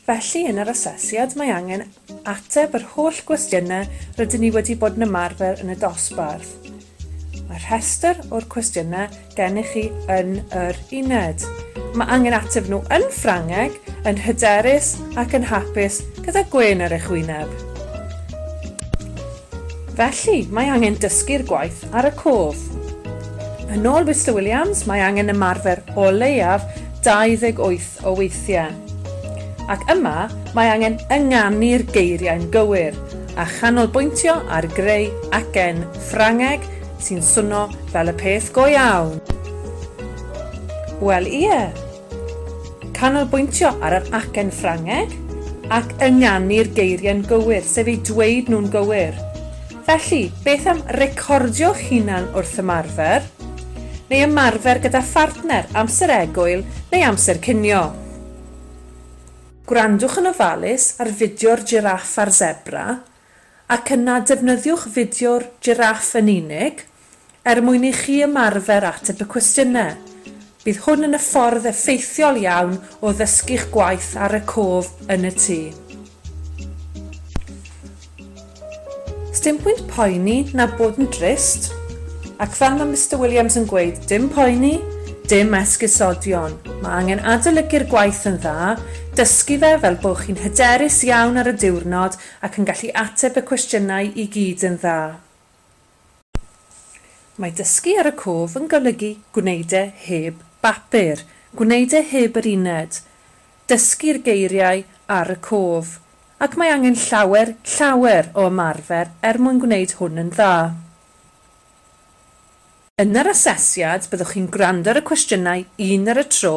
Felly, yn yr asesiad mae angen ateb yr holl gwestiynau rydyn ni wedi bod yn ymarfer yn y dosbarth. Mae rhestr o'r cwestiynau gennych chi yn yr uned. Mae angen ateb nhw yn Ffrangeg, yn hyderus ac yn hapus gyda gwên ar eich wyneb. Felly, mae angen dysgu'r gwaith ar y cof. Yn ôl Mister Williams, mae angen ymarfer o leiaf 28 o weithiau. Ac yma, mae angen ynganu'r geiriau'n gywir, a chanolbwyntio ar greu acen Ffrangeg sy'n swnio fel y peth go iawn. Wel, ie. Canolbwyntio ar yr acen Ffrangeg ac ynganu'r geiriau'n gywir, sef eu dweud nhw'n gywir. Felly, beth am recordio'ch hunan wrth ymarfer? Neu ymarfer gyda phartner, amser egwyl neu amser cinio? Gwrandwch yn ofalus ar fideo'r jiráff a'r sebra, ac yna defnyddiwch fideo'r jiráff yn unig, Er mwyn i chi ymarfer ateb y cwestiynau, bydd hwn yn y ffordd effeithiol iawn o ddysgu'ch gwaith ar y cof yn y tŷ. Sdim pwynt poeni na bod yn drist, ac fel mae Mister Williams yn gweud, dim poeni, dim esgusodion. Mae angen adolygu'r gwaith yn dda, dysgu fe fel bo chi'n hyderus iawn ar y diwrnod ac yn gallu ateb y cwestiynau i gyd yn dda. Mae dysgu ar y cof yn golygu gwneud e heb bapur, gwneud e heb yr uned, dysgu'r geiriau ar y cof, ac mae angen llawer, llawer o ymarfer er mwyn gwneud hwn yn dda. Yn yr asesiad, byddwch chi'n gwrando ar y cwestiynau un ar y tro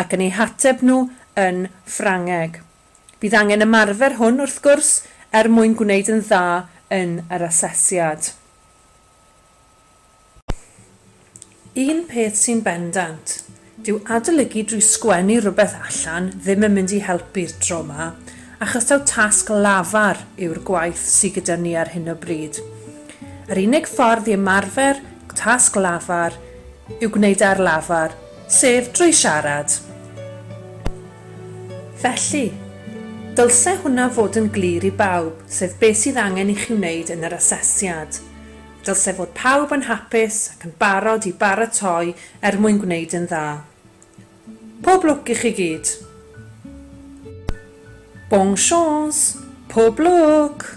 ac yn eu hateb nhw yn Ffrangeg. Bydd angen ymarfer hwn, wrth gwrs, er mwyn gwneud yn dda yn yr asesiad. Un peth sy'n bendant, dyw adolygu drwy sgwennu rhywbeth allan ddim yn mynd i helpu'r tro 'ma, achos taw tasg lafar yw'r gwaith sy gyda ni ar hyn o bryd. Yr unig ffordd i ymarfer tasg lafar yw gwneud e ar lafar, sef drwy siarad. Felly, dylse hwnna fod yn glir i bawb, sef beth sydd angen i chi wneud yn yr asesiad. Dylse fod pawb yn hapus ac yn barod i baratoi er mwyn gwneud yn dda. Pob lwc i chi gyd! Bonne chance! Pob lwc!